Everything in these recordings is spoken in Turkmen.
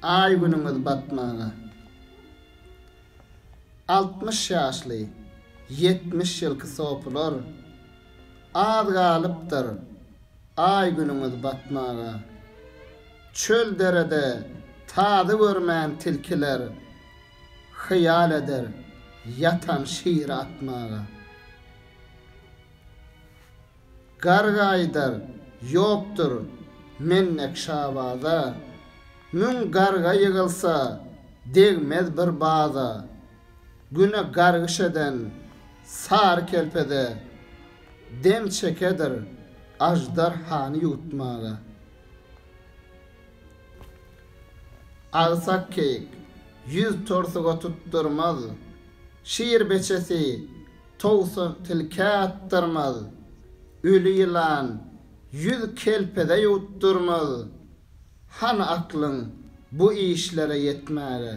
Aý günüňiz batmaga. Altmyş ýaşly, ýetmiş ýylky sopular, Az galypdyr Aý günüňiz batmaga. Çöl derede tazy görmän tilkiler, Hyýal eder ýatan şiri atmaga. Garga aýdar, Ýokdur, mennek şabaza. Müň garga ýygylsa, degmez bir baza. Güne gargyş eden sary kelpeze dem çekedir aždarhany ýutmaga. Agsak keýik ýüz torsuga tutdurmaz. Şir beçesi Towsuk tilkä atdyrmaz, öli ýylan ýüz kelpeze ýuwutdyrmaz. Hany aklyň bu işlere ýetmäge?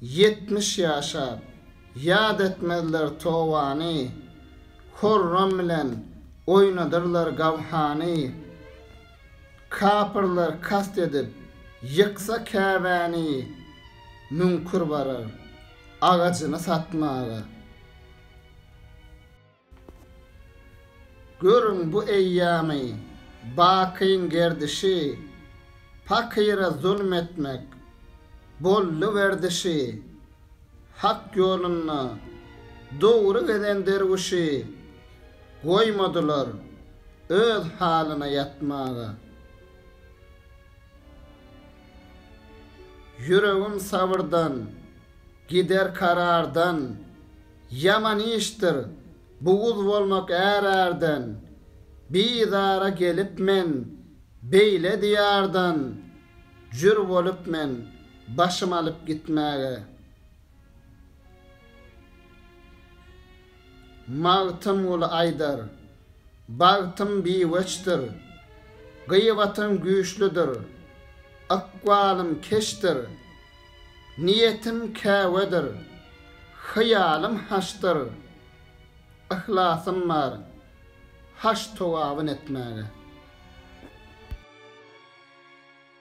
Ýetmiş ýaşap, ýat etmezler towany, horram bilen oýnadyrlar gawhany. Kapyrlar kast edip, ýyksa Käbäni müňkür barar, agajyny satmaga. Görüň bu eýýamy, bakyň gerdişi, pakyra zulm etmek, boldy werdişi, hak ýolunda dogry gezen derwüşi, Goýmadylar öz halyna ýatmaga. Ýüregim sabyrdan, gider karardan, Ýaman işdir, buguz bolmak är-ärden. Bizara gelip men, beýle diýardan, Jür bolup men, başym alyp gitmäge. Magtymguly aýdar, Bagtym biweçdir, gybatym güýçlüdir, Ykbalym keçdir, niýetim käwedir, Hyýalym haçdyr, yhlasym bar, Haç togabyn etmäge.